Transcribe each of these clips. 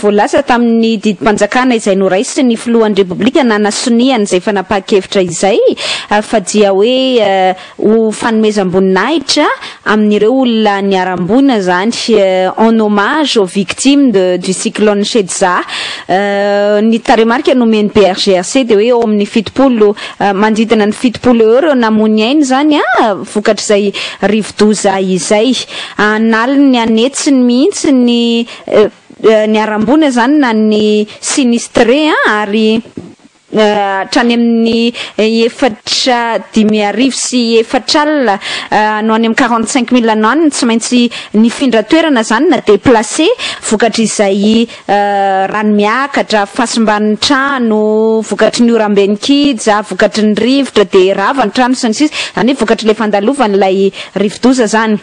Voalaza tamin'ny didim-panjakana izay noraisin'ny filohan'ny Repoblika nanasonihany izay fanapahan-kevitra izay fa dia hoe ho fanomezam-boninahitra amin'ireo olona niharam-boina izany, en hommage aux victimes de du cyclone Shedza. Ny tarehimarika nomen'ny BRGRC dia hoe eo amin'ny fitopolo, manodidina ny fitopolo eo ireo namoy ny ainy izany vokatr'izay rivo-doza izay. An'aliny ny an'hetsiny mihitsy ny niharam-boina izany na ny sinistre ary hatrany amin'ny efatra dimy arivo sy efatra alina no any amin'ny quarante cinq mille no any no tsy maintsy nifindra toerana izany na deplacer vokatr'izay rano miakatra, fahasimban'ny trano vokatry ny orambe nikija, vokatry ny rivotra dia rava ny trano sy ny sisa, izany hoe vokatry ilay fandalovan'ilay rivodoza izany.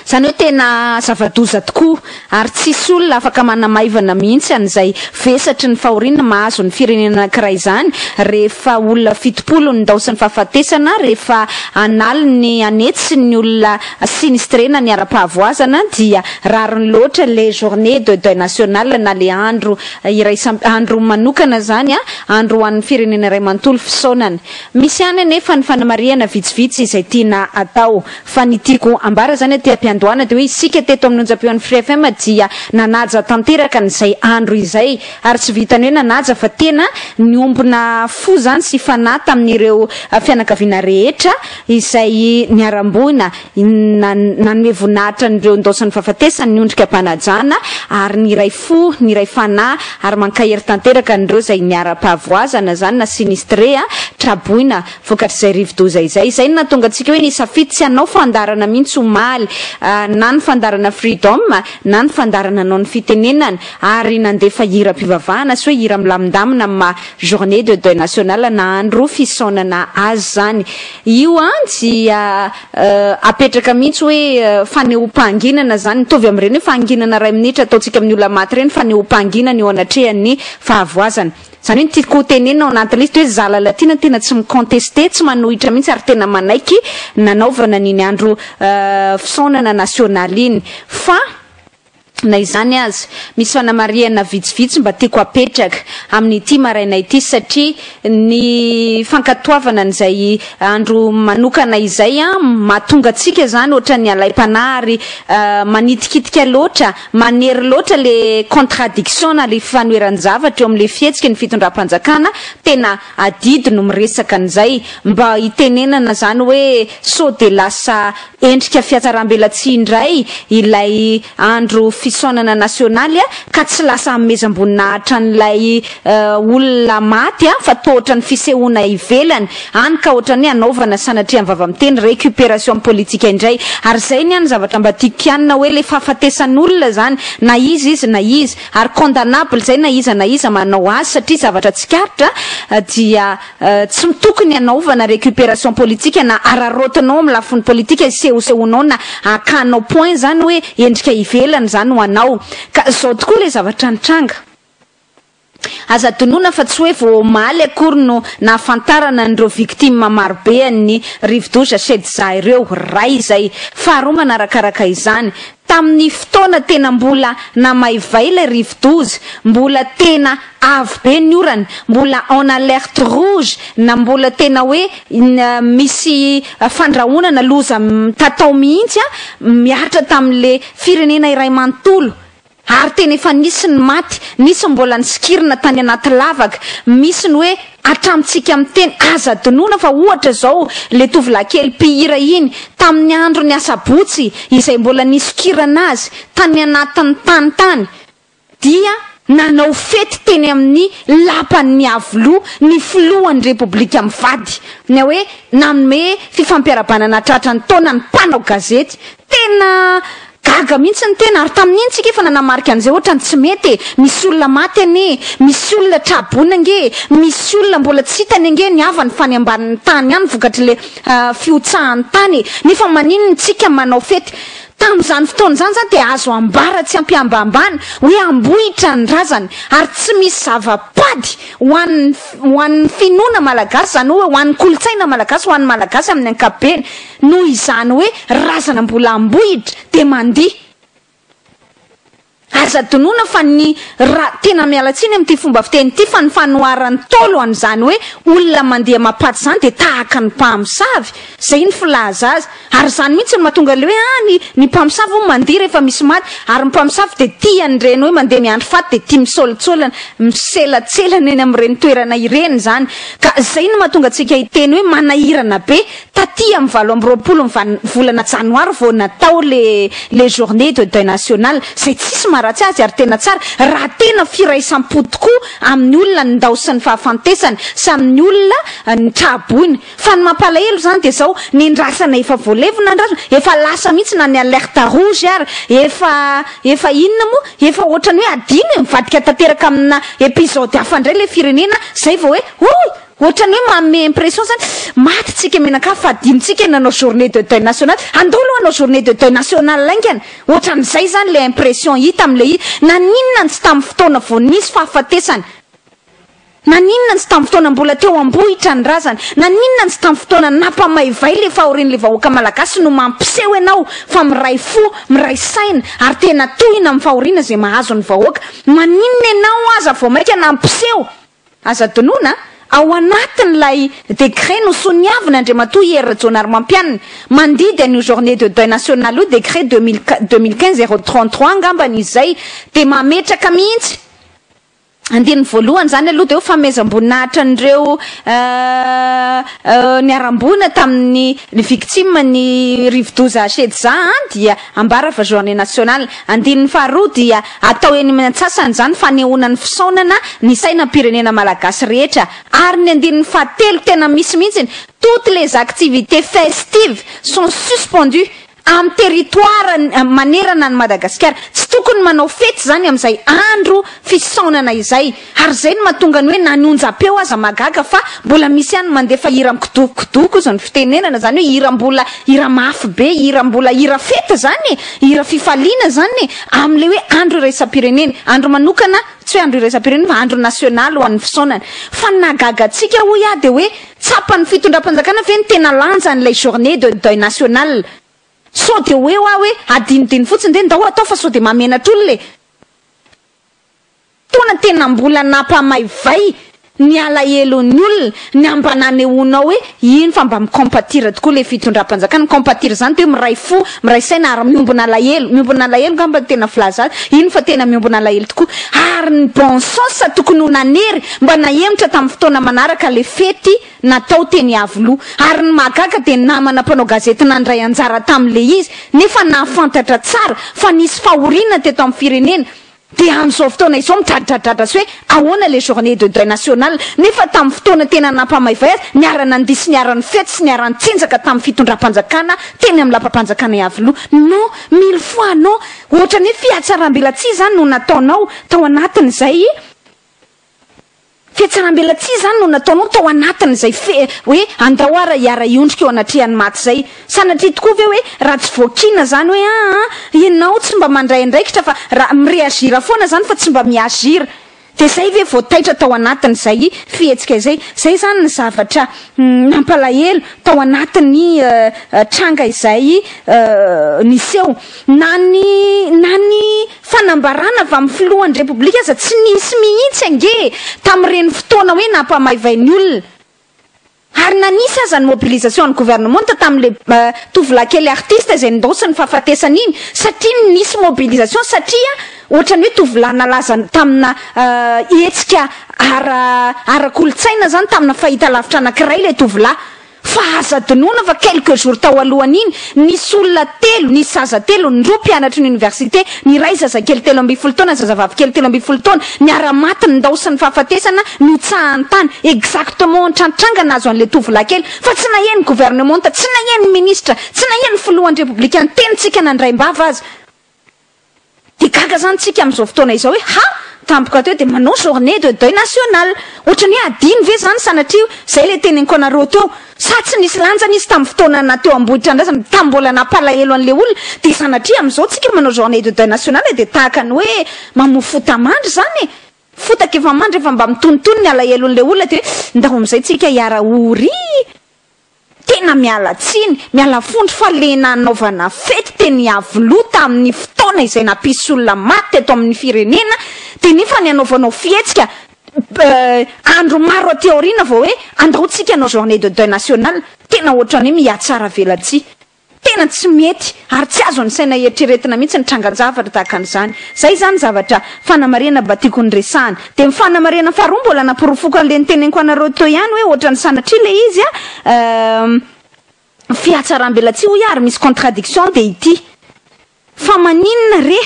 Izany hoe tena zava-doza tokoa ary tsisy olona afaka manamaivana mihitsy an'izay vesatry ny fahoriana mahazo ny firenena anankiray izany rehefa olona fitopolo no nidao sy ny fahafatesana rehefa an'aliny an'hetsy ny olona sinistrena ny ara-pahavoazana dia rariny loatra le journée de deuil national na le andro iraisam andro manokana zany a andro ho an'ny firenena iray mantolo fisaonana misy ihany anefa ny fanamarihana vitsivitsy izay tiana atao fa ny tiako ambara zany aty ampiandohana de hoe isika teto amin'ny onjam-peon'ny Free FM dia nanaja tanteraka an'izay andro izay ary tsy vitan'ny hoe nanaja fa tena niombona fo zany sy fanahy tamin'ireo fianakaviana rehetra izay niharam-boina nanome voninahitra an'ireo indaosin'ny fahafatesany ny ondrika am-panajana, ary niray fo, niray fanahy, ary mankahery tanteraka an'ireo izay niharam-pahavoazana, izany na sinistre, traboina, vokatr'izay rivo-doza izay. Izay no nahatonga antsika hoe nisafidy tsy hanao fandaharana mihitsy omaly, na ny fandaharana Freedom, na ny fandaharana Anao ny Fitenenana, ary nandefa hiram-pivavahana sy hoe hira milamindamina amin'ny maha Journée de deuil national na andro fisaonana azy izany. Io dia apetraka mihitsy hoe fanehoam-pahanginana izany. Mitovy amin'ireny hoe fahanginana iray minitra ataontsika amin'ny olona maty ireny, fanehoam-pahanginana eo anatrehan'ny fahavoazana. Izany hoe ny tiako ho tenenina ao anatin'ny liste hoe Zalah Latina tena tsy mi-contester, tsy manohitra mihitsy ary tena manaiky nanaovana an'iny andro fisaonana nasionaly iny. Fa. Na izany aza, misy fanamarihana vitsivitsy mba tiako hapetraka amin'ity maraina ity satria ny fankatoavana an'izay andro manokana izay mahatonga antsika izany ohatran'ny alaim-panahy ary manitikitika loatra, manery loatra ilay contradiction na ilay fifanoheran-javatra eo amin'ilay fihetsiky ny fitondram-panjakana, tena adidy no miresaka an'izay mba hitenenana izany hoe sao dia lasa Endrika fihatsarambelatsihy indray ilay andro fisaonana nasionaly ka tsy lasa hanomezam-boninahitra an'ilay olona maty fa toa ohatran'ny fisehoana ivelany any ka ohatran'ny hanaovana sanatria mivava-miteny récupération politique indray. Ary izay ny ahy ny zavatra mba tiako kianina hoe ilay fahafatesan'olona izany na iza izy na iza ary condamnable izay na iza na iza manao azy satria zavatra tsikaritra dia Tsy tokony hanaovana récupération politique na araraotinao amin'ny lafiny politika hisehosehonao na hakanao point izany hoe endrika ivelany izany ho anao. Ka izao tokoa ilay zavatra nitranga. Aza adinoina fa tsy hoe vao omaly akory no nahafantarana an'ireo victimes marobe an'ny rivodoza Shedza ireo. Iray izay. Faharoa manarakaraka izany. Tamin'ny fotoana tena mbola namaivay ilay rivodoza, mbola tena avo be ny orana, mbola en alerte rouge na mbola tena hoe misy fandrahonana loza mitatao mihitsy mihatra tamin'le firenena iray manontolo ary tena efa nisy ny maty, nisy mbola nisikirina tany anaty lavaka, misy ny hoe. Hatramintsika miteny aza adinoina fa ohatra izao le tovolahy kely mpihira iny tamin'ny andron'ny asabotsy izay mbola nisokirana azy tany anatin'ny tany tany dia nanao fety teny amin'ny lapan'ny Iavoloha ny filohan'ny repoblika mivady ny hoe nanome fifampiarabanana tratran'ny taona ny mpanao gazety Tena gaga mihintsy ny tena ary tamin'iny tsika efa nanamarika an'izay ohatrany tsy mety e! Misy olona maty anie e! Misy olona tra-boina ange e! Misy olona mbola tsy hitany ange ny havany fa any ambanin'ny tany ihany vokatr'le fihotsahan'ny tany e! Nefa maninona tsika manao fety tamin'izany fotoana izany zany dia azo ambara tsy ampihambambana hoe ambohitra ny razany ary tsy misy zava-pady ho an'ny ho an'ny finoana malagasy izany hoe ho an'ny kolontsaina malagasy ho an'ny malagasy amin'ny ankapobeny Noho izany hoe razana mbola ambohitra dia mandihy. Aza adinoina fa ny ra, tena miala tsiny amin'ity fomba fiteny ity fa ny fanoharan'ny Ntaolo an'izany hoe olona mandihy amapaty izany dia tahaka ny mpamosavy, izay ny filaza azy. Ary izany mihitsy no mahatonga ilay hoe ah, ny ny mpamosavy hono mandihy rehefa misy maty, ary ny mpamosavy dia tia an'ireny hoe mandeha miandry faty dia tia misaolatsaolana, miselatselana eny amin'ireny toerana ireny izany. Ka izay no mahatonga antsika hiteny hoe manahirana be. Taty amin'ny valo amby roapolo ny volana janoary vao natao le le journée de deuil national izay tsisy maharatsy azy ary tena tsara raha tena firaisam-po tokoa amin'ny olona ny ndao sy ny fahafantesany sy amin'ny olona ny traboina fa ny mampalahelo izany dia izao ny ndrasana efa voalevina ny ndrasana efa lasa mihitsy na ny alerte rouge ary efa efa inona moa efa ohatran'ny hoe adino e mivadika tanteraka amina episode hafa indray ilay firenena izay vao hoe oh Ohatrany hoe manome impression zany maty tsika menaka fa adino tsika ny nanao journée de deuil national, andao aloha hanao journée de deuil national haingana, ohatrany zay zany le impression hita am le izy, naninona ny tsy tam fotoana vo nisy fahafatesana, naninona ny tsy tam fotoana mbola teo ambohitra ny razana, naninona ny tsy tam fotoana nampamaivay le fahorian le vahoaka malagasy no mampiseho enao fa miray fo, miray saina ary tena tohina am fahoriana ze mahazo ny vahoaka, maninona enao aza vo maika nampiseho. Azo adinoina, ao anatin'ilay décret nosoniavin' Andriamatoa Hery Rajaonarimampianina mandidy an'io journée de deuil nationale io, décret deux mille qu-, deux mille quinze zéro trente trois angamba ny izay, dia mametraka mihitsy, andininy voalohany izany aloha dia hoe fanomezam-boninahitra an'ireo niharam-boina tamin'ny ny victimes ny rivodoza Shedza an, dia. Ambara fa journée nationale. Andininy faharoa dia atao eny amin'ny antsasany izany fanehoana ny fisaonana ny sainam-pirenena malagasy rehetra ary ny andininy fahatelo tena misy mihitsy toutes les activités festives sont suspendues amin'ny territoire manerana an'i Madagasikara. Tsy tokony manao fety izany amin'izay andro fisaonana izay. Ary izay no mahatonga ny hoe na ny onjam-peo aza mahagaga fa mbola misy ihany mandefa hira mikodokokodoko izao ny fitenenana izany hoe hira mbola hira mafy be hira mbola hira fety izany e! hira fifaliana izany e! amin'ilay hoe andro iraisam-pirenena andro manokana tsy hoe andro iraisam-pirenena fa andro nasionaly ho an'ny fisaonana fa ny nahagaga antsika hoy aho dia hoe tsapan'ny fitondram-panjakana ve ny tena lanjan'ilay journée de deuil national sao dia hoe hoa hoe adinodino fotsiny dia ndao atao fa sao dia mahamenatra olona e! Fotoana tena mbola nampamaivay ny alahelon'ny olona ny an mba nanehoanao hoe iny fa mba mi-compatir tokoa ilay fitondram-panjakana. Mi-compatir izany dia hoe miray fo, miray saina ary miombona alahelo. Miombona alahelo angamba no tena filaza azy. Iny fa tena miombona alahelo tokoa. Ary ny bon sens tokony ho nanery mba nahemotra tamin'ny fotoana manaraka ilay fety natao teny Iavoloha. Ary ny mahagaga dia ny namana mpanao gazety nandray anjara tamin'ilay izy nefa nahafantatra tsara fa nisy fahoriana teto amin'ny firenena Dia amin'izao fotoana izao midradradradra sy hoe ahoana ilay journée de deuil national nefa tamin'ny fotoana tena nampamaivay azy, niara-nandihy sy niara-nifety sy niara-nitsinjaka tamin'ny fitondram-panjakana teny amin'ny lapam-panjakana Iavoloha. Non, mille fois non! Ohatran'ny hoe fihatsarambelatsihy izany no nataonao tao anatin'izay. Fiatsaram-belatsihy izany no nataonao tao anatin'izay fe, hoe andao ara hiara-hiondrika eo anatrehan'ny maty izay. Sanatria tokoa ve hoe raha tsy voakiana izany hoe aa ianao tsy mba mandray andraikitra fa raha mi-reagir foana izany fa tsy mba mi-agir. Dia izay ve vao taitra tao anatin'izay fihetsika izay. Izay izany ny zavatra nampalahelo tao anatin'ny tranga izay niseho. Na ny, na ny. Fanambarana avy amin'ny filohan'ny Repoblika aza tsy nisy mihitsy ange tamin'ireny fotoana hoe nampamaivay ny olona. Ary na nisy aza ny mobilisation an'ny gouvernementa tamin'ilay tovolahy kely artiste izay nindaosin'ny fahafatesany iny satria nisy mobilisation satria ohatran'ny hoe tovolahy nalaza tamina hetsika ara ara-kolontsaina izany, tamina fahitalavitra anankiray ilay tovolahy. Fa aza adinoina fa quelques jours tao alohan'iny, nisy olona telo, nisy zaza telo, ny roa mpianatry ny oniversite, ny iray zazakely telo ambin'ny folo taona, zazavavy kely telo ambin'ny folo taona, niara-maty ny ndao sy ny fahafatesana no tsahan'ny tany, exactement ohatran'ny tranga nahazo an'ilay tovolahy kely, fa tsy nahian'ny gouvernementa, tsy nahian'ny ministra, tsy nahian'ny filohan'ny repoblika niteny tsika nandray am-bava aza. Dia gaga zany tsika amin'izao fotoana izao hoe ha! tampoka teo dia manao journée de deuil national. Ohatrany hoe adino ve zany sanatria zay ilay tenenko anareo teo. Sa tsy nisy lanjany izy tamin'ny fotoana na teo Ambohitrandrasana tamin'ny mbola nampalahelo an'ilay olona. Dia sanatria amin'izao tsika manao journée de deuil national dia tahaka ny hoe mamoa fota mandry zany e. Fotaka efa mandry efa mba mitonitony ny alahelon'ilay olona dia hoe ndao amin'izay tsika hiara-ho ry. Tena miala tsiny, miala fondro fa le nanaovana fety teny Iavoloha tamin'ny fotoana izay nampisy olona maty teto amin'ny firenena dia nefa ny anaovanao fihetsika andro maro aty aoriana vao hoe andao tsika hanao journée de deuil national. Tena ohatran'ny hoe mihatsaravelatsihy. Tena tsy mety ary tsy azon'ny saina eritreretina mihitsy ny trangan-javatra tahaka an'izany. Izay izany zavatra, fanamarihana mba tiako noresahana. Dia ny fanamarihana faharoa mbola naporofoko an'ilay noteneniko anareo teo ihany hoe ohatran'ny sanatria ilay izy an, fihatsaram-belatsihy hoy aho ary misy contradiction dia ity, fa maninona re?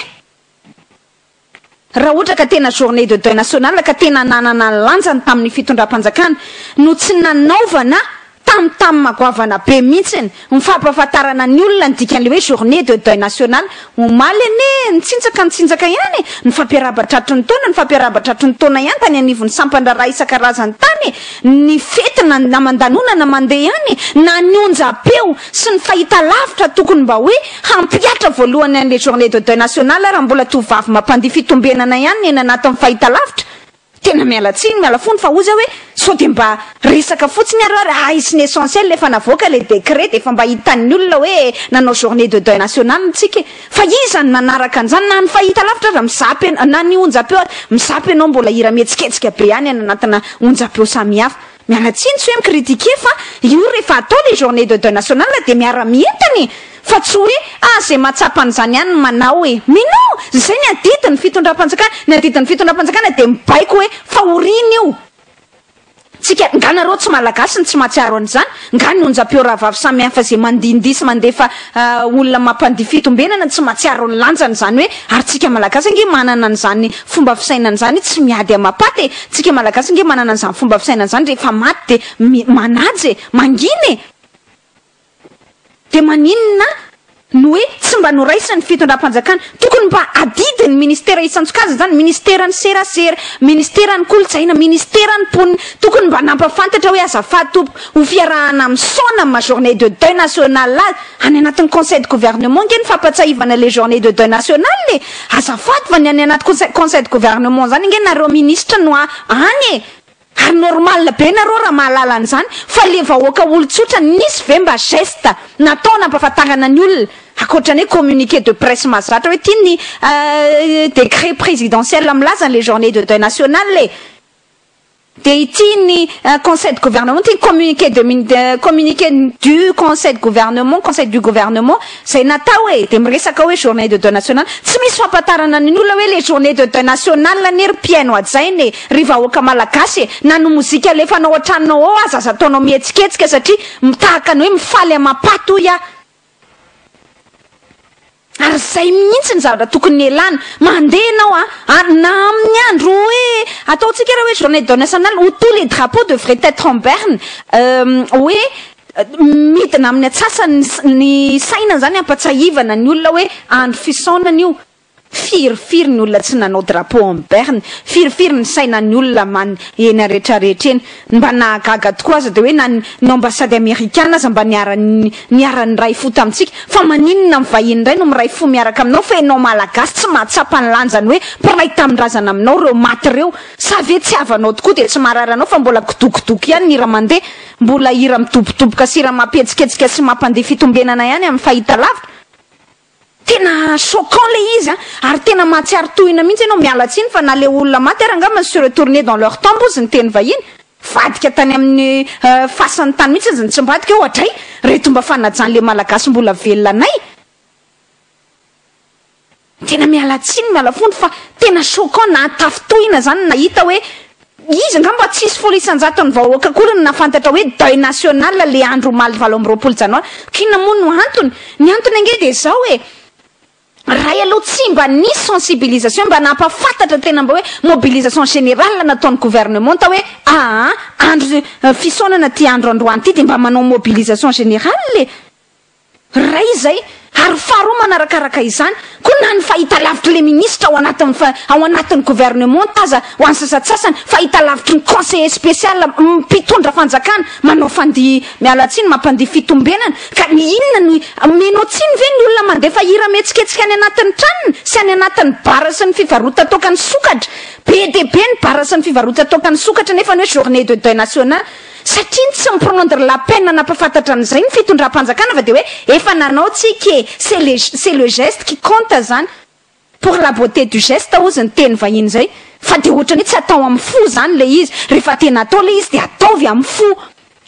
Raha ohatra ka tena journée de deuil national ka tena nanana ny lanjany tamin'ny fitondram-panjakana no tsy nanaovana tamtam goavana be mihitsiny ny fampahafantarana ny olona ny dikan'ilay hoe journée de deuil national. Omaly anie nitsinjaka nitsinjaka ihany ny fampiarahaba tratry ny taona ny fampiarahaba tratry ny taona ihany tany anivon'ny sampan-draharaha isan-karazany tany ny fety na namandanonana mandeha ihany na ny onjam-peo sy ny fahitalavitra tokony mba hoe Hampihatra voalohany an'ilay journée de deuil nationale raha mbola tovovavy mampandihy fitombenana ihany ny eny anatin'ny fahitalavitra. Tena miala tsiny, miala fony fa hoy zah hoe sao dia mba resaka fotsiny ary ary ahisin'ny essentiel efa navoaka ilay décret dia efa mba hitan'ny olona hoe nanao journée de deuil nationale ntsika e. Fa iza no nanaraka an'izany na ny fahitalavitra aza mizapy anao na ny onjapeo aza mizapy anao mbola hira mihetsiketsika be ihany any anatina onjapeo samihafa. Miala tsiny tsy hoe mi-critiquer fa io rehefa atao le journée de deuil national dia miara mientana e! Fa tsy hoe ah ze mahatsapa an'izany ihany no manao e! Mais non! Zay ny adidin'ny fitondram-panjakana, ny adidin'ny fitondram-panjakana dia mibaiko hoe fahoriana io! Tsika, nga nareo tsy malagasy no tsy mahatsiaro an'izany? Nga ny onjam-peo rahavavy samihafa ze mandihindihy sy mandefa olona mampandihy fitombenana no tsy mahatsiaro ny lanjany izany hoe ary tsika malagasy ange manana an'izany Fomba fisainana zany tsy miady amapaty e! Tsika malagasy ange manana an'izany fomba fisainana zany rehefa maty de mi, manaja e! Mangina e! De maninona no hoe tsy mba noraisin'ny fitondram-panjakana? Tokony mba adidin'ny ministera isan-tsokajiny zany, ministeran'ny serasera, ministeran'ny kolontsaina, ministeran'ny mponina, tokony mba nampafantatra hoe azafady tompoko, ho fiarahana misaona amin'ny maha journée de deuil national azy, any anatin'ny conseil de gouvernement ange ny fampatsahivana le journée de deuil national e! Azafady fa ny any anaty conseil conseil de gouvernement zany ange nareo ministra no any e! Ary normal be nareo raha mahalala an'izany fa le vahoaka olon-tsotra nisy ve mba geste natao nampafantarana ny olona akoatran'ny hoe communiqué de presse mahazatra hoe ty ny décret présidentiel milaza an'le journée de deuil national e! Dia ity ny Conseil de Gouvernement, ity ny communiqué de mini-, communiqué du Conseil de Gouvernement, Conseil du Gouvernement, izay natao e! dia miresaka hoe journée de deuil national, tsy misy fampahatarana ny olona hoe le journée de deuil national anie ry mpihaino hajaina e! ry vahoaka malagasy e! na ny mozika alefanao an-tranonao ao aza aza ataonao mihetsiketsika satria mitahaka ny hoe mifaly amam-paty hoy aho! Ary zay mihintsy ny zavatra tokony hialana. Mandeha ianao a! ary na amin'ny andro hoe ataontsika raha hoe journée de nationale où tous les drapeaux devraient être en berne hoe midina amin'ny atsasany ny saina izany hampatsiahivana ny olona hoe andro fisaonana io. Firifiry ny olona tsy nanao drapeau en berne, firifiry ny sainan'ny olona man eny aretraretra eny. Ny mba nahagaga tokoa aza dia hoe na ny ny ambassade amerikana aza mba niara niara niray fo tamintsika. Fa maninona ny vahiny indray no miray fo miaraka aminao fa ianao malagasy tsy mahatsapa ny lanjany hoe mpiray tamindrazana aminao ireo maty ireo. Sa ve tsy havanao tokoa dia tsy marary anao fa mbola kidokidoky ihany ny hira mandeha, mbola hira midobodoboka sy hira mampihetsiketsika sy mampandeha fitombenana ihany amin'ny fahitalavitra? Tena choquant le izy an! Ary tena mahatsiaro tohina mihitsy enao, miala tsiny fa na le olona maty ary angamba se retourner dans leur tombe ozy niteny vahiny, vadika tany aminy fasany tany mihitsy izy nitsimbadika eo adray reto mba fanajan le malagasy mbola velona anay! Tena miala tsiny miala fondro fa tena choquant nahatafintohina zany nahita hoe Izy angamba tsy hisy folo isan-jaton'ny vahoaka akory no nahafantatra hoe deuil national ilay andro omaly valo amby roapolo janoary. Ka inona moa no antony? Ny antony ange dia izao e! Ray aloha tsy mba nisy sensibilisation mba nampahafantatra tena mba hoe mobilisation générale nataon'ny gouvernementa hoe aa andro fisaonana ity andro androany ity dia mba manao mobilisation générale e! Iray izay, ary faharoa manarakaraka izany, koa na ny fahitalavitry le ministra ao anatin'ny ao anatin'ny gouvernement aza ho an'ny sasatsasany, fahitalavitry ny conseiller special mpitondra fanjakana manao fandihy, miala tsiny, mampandihy fitombenana, ka ny inona no omenao tsiny ve ny olona mandefa hira mihetsiketsika any anatin'ny tranony sy any anatin'ny bar sy ny fivarotan-toaka ny sokatra, be dia be ny bar sy ny fivarotan-toaka ny sokatra nefa ny hoe journee de deuil national. Satria ny tsy mi-prendre la peine hanapafantatra an'izay ny fitondram-panjakana fa dia hoe efa nanao tsika e! C'est le c'est le geste qui compte zany. Pour la beauté du geste hozy ny teny vahiny zay. Fa dia ohatran'ny hoe tsy atao amin'ny fo zany ilay izy. Rehefa tena atao ilay izy dia ataovy amin'ny fo.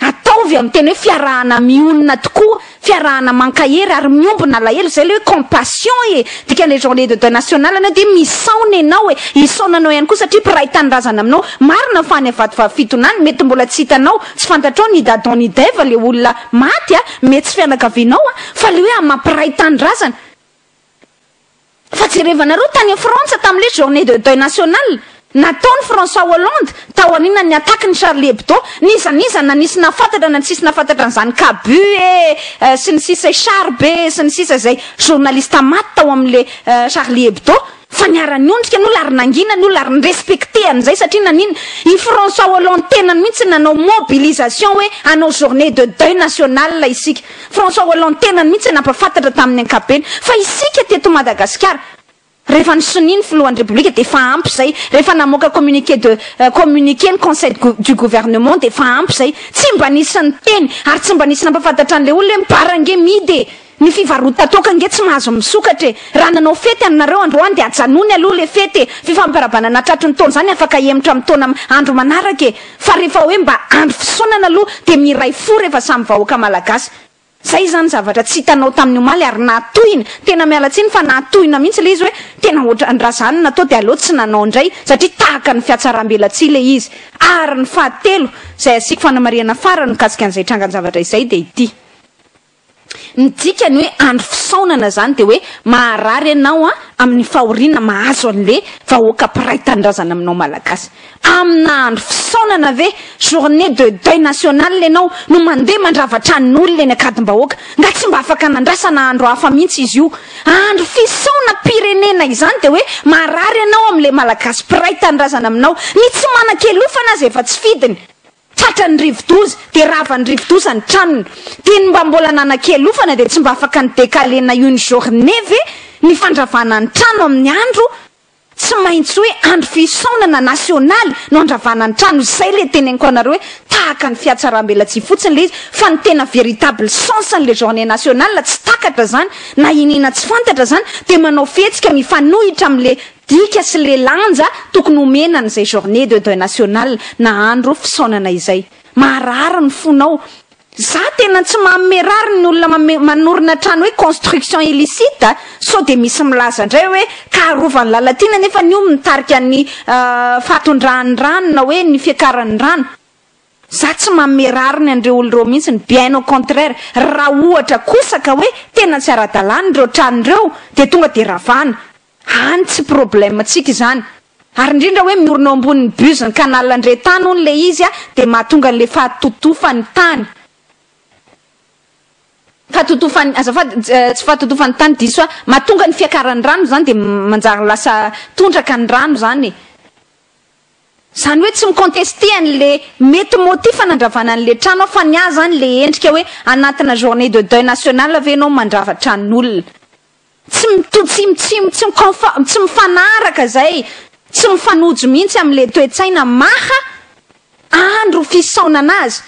Ataovy amin'ny tena hoe fiarahana mionona tokoa. fiarahana mankahery ary miombona alahelo izay ilay hoe compassion e dikany le journée de deuil national anao dia misaona ianao e hisaona anao ihany koa satria mpiray tanindrazana aminao marina fa any avadivavy fitona any mety mbola tsy hitanao tsy fantatrao ny dadon ny deva le olona maty a mety tsy fianakavianao a fa le hoe amampiray tanindrazana Fa jerevanareo tany Frantsa tamin'ilay journée de deuil national nataon'i François Hollande taorianan'ny attaque ny Charlie Hebdo, n'iza n'iza na nisy nahafantatra na tsisy nahafantatra an'izany Cabu e, sy ny sisa e, Charb e, sy ny sisa izay journaliste maty tao amin'ilay Charlie Hebdo, fa niara-niondrika an'olo ary nangina ny olona ary ni-respecter an'izay satria naninona? I François Hollande tenany mihitsy nanao mobilisation hoe hanao journée de deuil national isika. François Hollande tenany mihitsy no nampahafantatra tamin'ny ankapobeny fa isika teto Madagasikara rehefa ny sonia ny filohan'ny Repoblika dia efa ampy izay, rehefa namoaka communiqué de communiqué ny conseil du gouvernement dia efa ampy izay, tsy mba nisy niteny ary tsy mba nisy nampahafantatra an'ilay olona hoe mibara ange midy e! ny fivarotan-toaka ange tsy mahazo misokatra e! raha nanao fety aminareo androany dia ajanony aloha ilay fety e! fifampirabanana tratry ny taona izany afaka hihemotra amin'ny taona andro manaraka e! Fa rehefa hoe mba andro fisaonana aloha dia miray fo rehefa samy vahoaka malagasy. Zay izany zavatra tsy hitanao tamin'ny omaly ary nahatohina. Tena miala tsiny fa nahatohina mihitsy ilay izy hoe tena ohatran raha zany natao dia aleo tsy nanao indray satria tahaka ny fiatsarambelatsihy ilay izy. Ary ny fahatelo izay asiako fanamarihana farany mikasika an'izay trangan-javatra izay dia ity. Ny dikany hoe andro fisaonana zany de hoe maharary enao an aminy fahoriana mahazo anle vahoaka mpiray tanindrazana aminao malagasy amina andro fisaonana ve journee de deuil national enao no mande mandrava tranon olona eny akadimbahoaka nga tsy mba afaka nandrasana andro hafa mintsy izy io andro fisaona pirenena izany de hoe maharary enao amle malagasy mpiray tanindrazana aminao ny tsy manan kelofana aza efa tsy fidiny Tratran'ny rivodoza, dia ravan'ny rivodoza ny tranony. Dia ny mba mbola nanakialofana dia tsy mba afaka ni-decaler na une journée ve ny fandravana ny trano amin'ny andro tsy maintsy hoe andro fisaonana nasionaly no andravana ny trano. Izay ilay teneniko anareo hoe tahaka ny fihatsaram-belatsihy fotsiny ilay izy fa ny tena véritable sens an'ilay journée nationale tsy takatra izany na iniana tsy fantatra izany dia manao fihetsika mifanohitra amin'ilay Dika sy le lanja tokony homena an'izay journée de deuil national na andro fisaonana izay. Maharary ny fonao. Za tena tsy manome rariny ny olona manorina trano hoe construction illicite sao dia misy milaza indray hoe kaharovan'i Lalatiana nefa ny io mitarika ny fahatondrahan'ny rano na hoe ny fiakaran'ny rano. Za tsy manome rariny an'ireo olona ireo mihitsy ny bien au contraire. Raha ohatra kosa ka hoe tena tsy ara-dalàna ireo trano ireo dia tonga dia ravana. Any tsy problème tsika izany. Ary indrindra hoe miorina eo ambonin'ny bus ny canal ndre tany hono le izy a de mahatonga an'le fahatotofan'ny tany fahatotofan'ny azafady tsy fahatotofan'ny tany diso ahy mahatonga ny fiakaran'ny rano izany de manjary lasa tondraka ny rano izany e. Izany hoe tsy mi-contester an'le mety motif hanandravana an'le trano aho fa ny ahy izany le endrika hoe anatina journée de deuil national ve ianao mandrava tranon'olona. Tsy mitovy, tsy mitsimo, tsy miconf, tsy mifanaraka izay, tsy mifanojo mihitsy amin'ilay toe-tsaina maha andro fisaonana azy.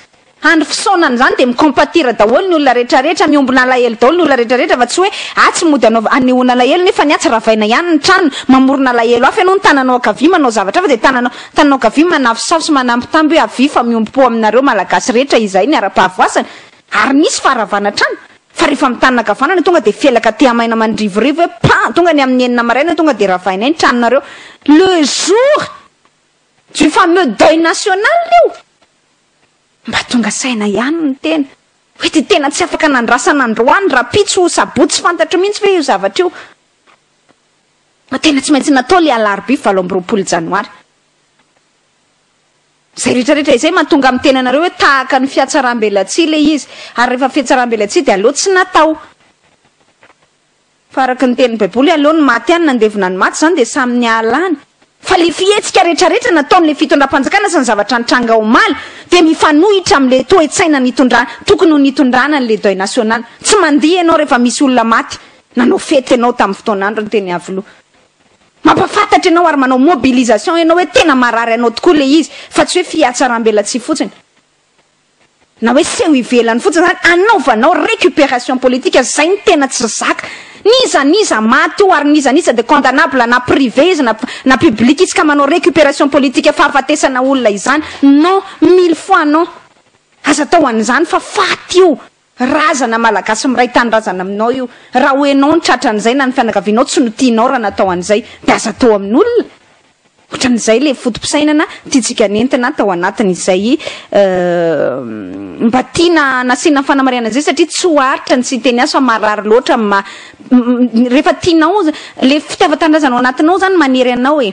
Andro fisaonana izany dia mi-compatir daholo ny olona rehetrarehetra, miombona alahelo daholo ny olona rehetrarehetra fa tsy hoe atsy mody anaova, anehoana alahelo nefa ny atsy ravaina ihany ny trano, mamorona alahelo hafa ianao ny tananao ankavia manao zavatra hafa dia tananao, tananao ankavia manafosafo sy manambitamby hoe avia fa miombom-po aminareo Malagasy rehetra izay ny ara-pahavoazana ary nisy faharavana trano. Fa rehefa amin'ny tanana ankavanana tonga dia felaka tea maina mandrivorivo hoe pan! Tonga ny amin'ny enina maraina tonga dia ravainay ny tranonareo. Le jour du fameux deuil national io! Mba tonga saina ihany ny tena hoe dia tena tsy afaka nandrasana androany, rahampitso, sabotsy fantatro mihitsy ve io zavatra io? Fa tena tsy maintsy natao ilay alarobia valo amby roapolo janoary. Izay rehetra rehetra izay mahatonga amin'ny tenanareo hoe tahaka ny fiatsaram-belatsihy ilay izy, ary rehefa fiatsaram-belatsihy dia aleo tsy natao. Fa araka ny tenin'ny Baiboly, aleo ny maty ihany nandevina ny maty, izany dia samy nihalany. Fa ilay fihetsika rehetra rehetra nataon'ilay fitondram-panjakana sy ny zavatra nitranga omaly dia mifanohitra amin'ilay toe-tsaina nitondra, tokony ho nitondrana an'ilay deuil national. Tsy mandihy ianao rehefa misy olona maty, nanao fety ianao tamin'ny fotoan'androny teny Iavoloha. Mampafantatra ianao ary manao mobilisation ianao hoe tena marary anao tokoa ilay izy fa tsy hoe fihatsarambelatsihy fotsiny na hoe seho ivelany fotsiny izany anaovanao recuperation politique izay no tena tsy zaka n'iza n'iza maty eo ary n'iza n'iza dia condamnable na privé izy na na public izy ka manao recuperation politique fahafatesana olona izany non mille fois non aza atao an'izany fa faty io Razana malagasy miray tanindrazana aminao io. Raha ho enao no tratra an'izay na ny fianakavianao tsy no tianao raha natao an'izay dia aza atao amin'olona. Otran'izay le foto-pisainana tiantsika nentina tao anatiny izay mba tiana nasiana fanamarihana izay satria tsy ho aritra ny siteny azy fa marary loatra amin'ny maha rehefa tianao le fitiavan-tanindrazana ao anatinao izany manery anao e.